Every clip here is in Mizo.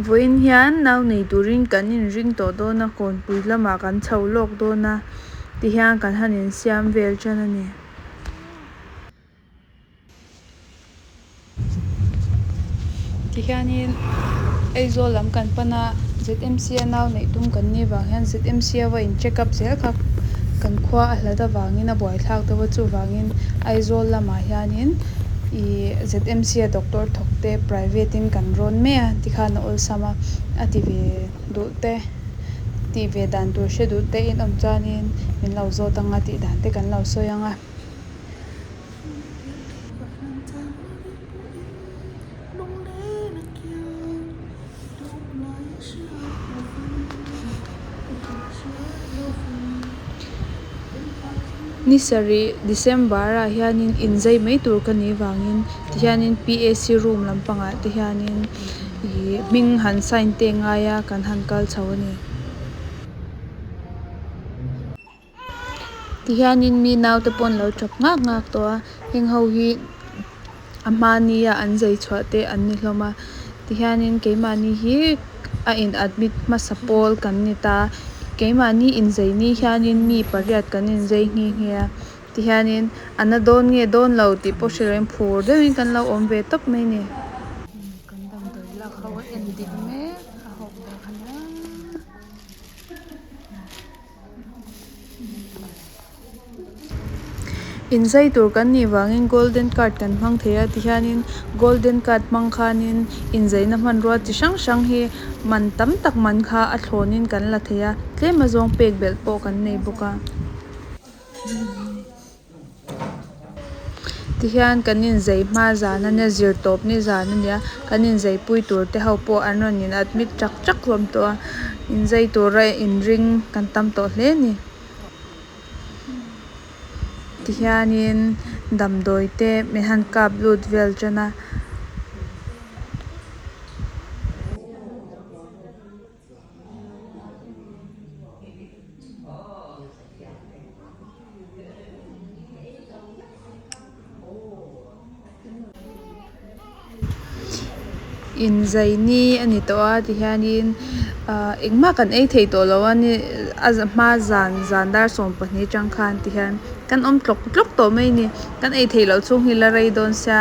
Vawiin hian nau nei turin kan inring tawh dawn a, Kawnpui lamah kan chho lawk dawn a ti hian kan han insiam vel tan a ni. Tihianin Aizawl lam kan pan a, ZMC a nau neih tum kan ni avang hian ZMC a va in check up zel kha kan khua a hlat avangin a buaithlak deuh a, chuvangin Aizawl lamah hianin I ZMC a doctor thawk te private in kan rawn mai a ti khan a awlsam a, a ti ve duh te tih ve dan tur hre duh te in awm chuanin min lo zawt ang a tih dan te kan lo sawi ang a. Ni sarih December ah hianin inzai mai tur ka nih vangin tihianin pac room lampangah te hianin ihh hming han sign te ngai a kan han kal chho a ni. Ti hianin mi naute pawh an lo ṭap nghak nghak tawh a, heng ho hi a hma nia an zai chhuah te an ni hlawm a, ti hianin keimahni hi a in admit hmasa pawl kan ni ta, keimahni inzai ni hianin mi pariat kan inzai nghe nghe a, ti hianin an la dawn nge dawn lo tih pawh hrilh lohin phur deuhin kan lo awm ve tawp mai ni. Kan damdawi lak ho a en dik mek a hawk dawn a nia. Inzai tur kan nih vangin golden card kan hmang thei a ti hianin golden card hmang khanin inzaina hmanrua chi hrang hrang hi man tam tak man kha a thlawnin kan la thei a tlem azawng pek belh pawh kan nei bawk a. Ti hian kan inzei hma zan ania zir tawp ni zan ania kan inzei pui tur te ho pawh an rawn in admit chak chak hlawm tawh a inzei tura in ring kan tam tawh hle ni ti hianin damdawi te min han kap lut vel tana. inzaini a ni tawh a ti hian in ahh engmah kan ei thei tawh lo a ni a za hma zan zan dar sawm pahnih atang khan ti hian kan awm tlawk tlawk tawh mai a ni kan ei theih loh chung hi la rei dawn sia.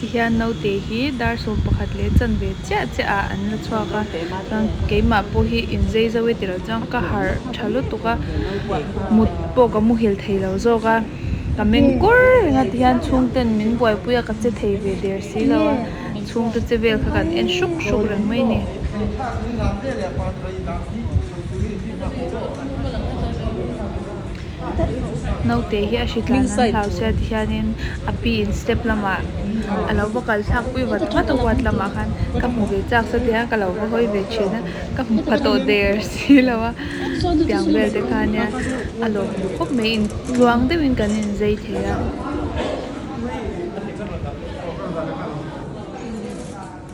Tihian naute hi dar sawm pakhat leh chanve chiah chiah ah an la chhuak a chuan keimah pawh hi inzei zo e tilo chuan ka harh tha lutuk a mut pawh ka muhil theilo zawk a ka meng kur reng a tihian chhungten min buaipui a ka che thei ve der silo a chhungte che vel kha kan en hruk hruk reng mai ni. Naute hi a hritlan an hlauhsiat ti hianin a piin step lamah a lo va kal thlak pui vat vat a huat lamah khan ka hmu ve chak sa ti a ka lo va hawi ve thin a ka hmu pha tawh der si lo a tiang vel te khan nia a lawm duh khawp mai in tluang deuh in kan in zai thei a.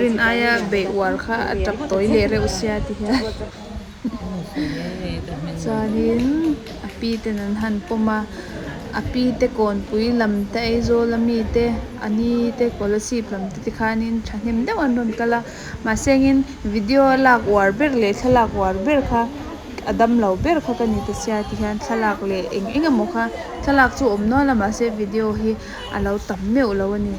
Rin aia beih uar kha a tap tawi leh reuh sia ti hian chuanin a pi ten an han pawm a a pi te kawnpui lam te aizawl a mi te a ni te scholarship lam te tikhanin thahnem deuh an rawn kal a mahse engin video a lak uar ber leh thlalak uar ber kha a damlo ber kha ka ni ta sia ti hian thlalak leh eng eng emaw kha thlalak chu a awm nual a mahse video hi-- A lo tam meuh lo a ni.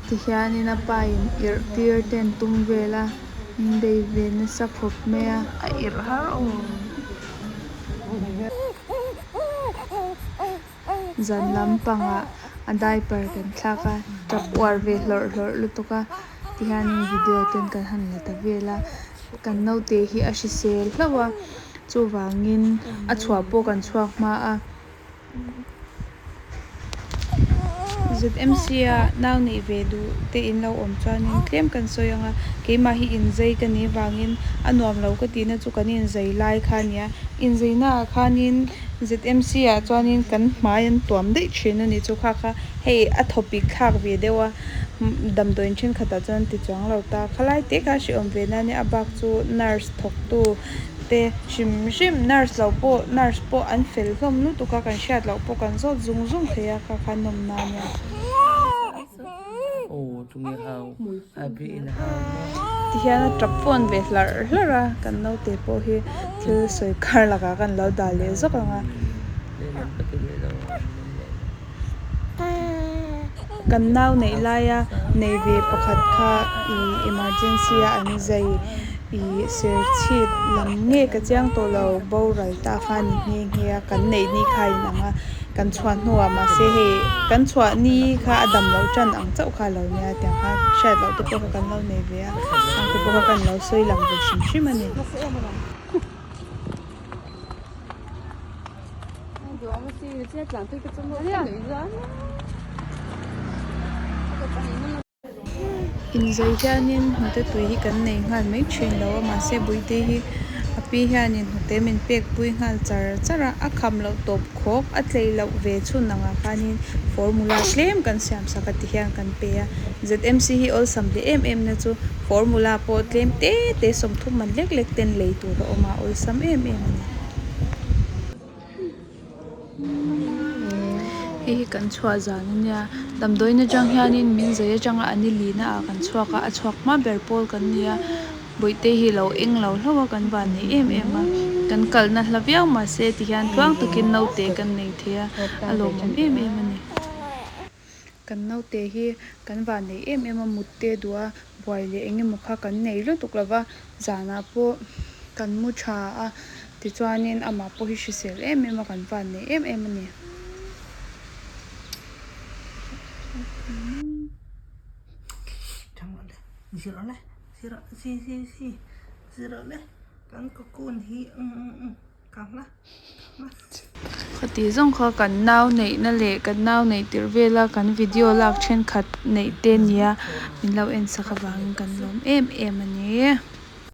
Tihianin a pa in irh tir te an tum vel a, Inbeihve nasa khawp mai a. A irh har aw. Zan lampangah a diaper kan thlak a, tap uar ve hlawrh hlawrh lutuk a. Ti hianin video ten kan han la ta vel a, kan naute hi a hrisel hlauh a, chuvangin a chhuah pawh kan chhuak hma a. Zmc a nau neih ve duh te in lo awm chuanin tlem kan sawi ang a, keimah hi inzei ka nih vangin a nuam lo ka tihna chu kan inzei lai kha a ni a, inzeina ah khanin. ZMC-ah chuanin kan hmai an tuam daih thin a ni. Chu kha kha hei a thawpik thlak ve deuh a, damdawiin thenkhatah chuan an ti chuang lo ta. Khalai te kha a hriawm ve nania a bak chu nurse thawktu te hrim hrim, nurse lo pawh, nurse pawh an fel hlawm lutuk a, kan hriat loh pawh kan zawt zung zung thei a kha kha nawmna ania. Tihian a tap fawn ve hlar hlar a, kan naute pawh hi thil sawi kar lakah kan lo dah leh zawk ang a. Kan nau neih laia nei ve pakhat kha ih emergency a an zai ih ser chhit lam nge ka chiang tawh lo, boral ta kha ni nghe nghe a, kan neih ni kha a inang a. Kan chhuah hnuah mahse hei kan chhuah ni kha a dam loh tan ang chauh kha alo nia tiang kha hriat loh te pawh kha kan lo nei ve a, hang te pawh kha kan lo sawi lang ve hrim hrim a ni. Inzei hianin hnute tui hi kan nei nghal mai thin lo a, mahse Buite hi a pi hianin hnute min pekpui nghal char char a, a kham loh tawp khawk a tlei loh ve chhun ang ah khanin formula tlem kan siam sak a ti hian kan pe a. ZMC hi awlsam hle em em na chu formula pawh tlem te te sawmthum man lek lek ten lei tur a awm a, awlsam em em a ni. Hei hi kan chhuah zan a nia damdawiin atang hianin min zai atang a an i lin a kan chhuak a a chhuak hma ber pawl kan ni a bawihte hi a lo eng lo hlauh a kan van nei em em a kan kalna hla viau mahse tihian tluang takin naute kan nei thei a a lawmawm em em a ni. Kan naute hi kan van nei em em a, mutte duh a, buai leh eng emaw kha kan nei lutuk lo va, zanah pawh kan mu tha a, tichuanin amah pawh hi hrisel em em a, kan van nei em em a ni. Khatih zawng kha kan nau neihna leh kan nau nei tir vela kan video lak thenkhat neih te nia min lo en sak avangin kan lawm em em a ni.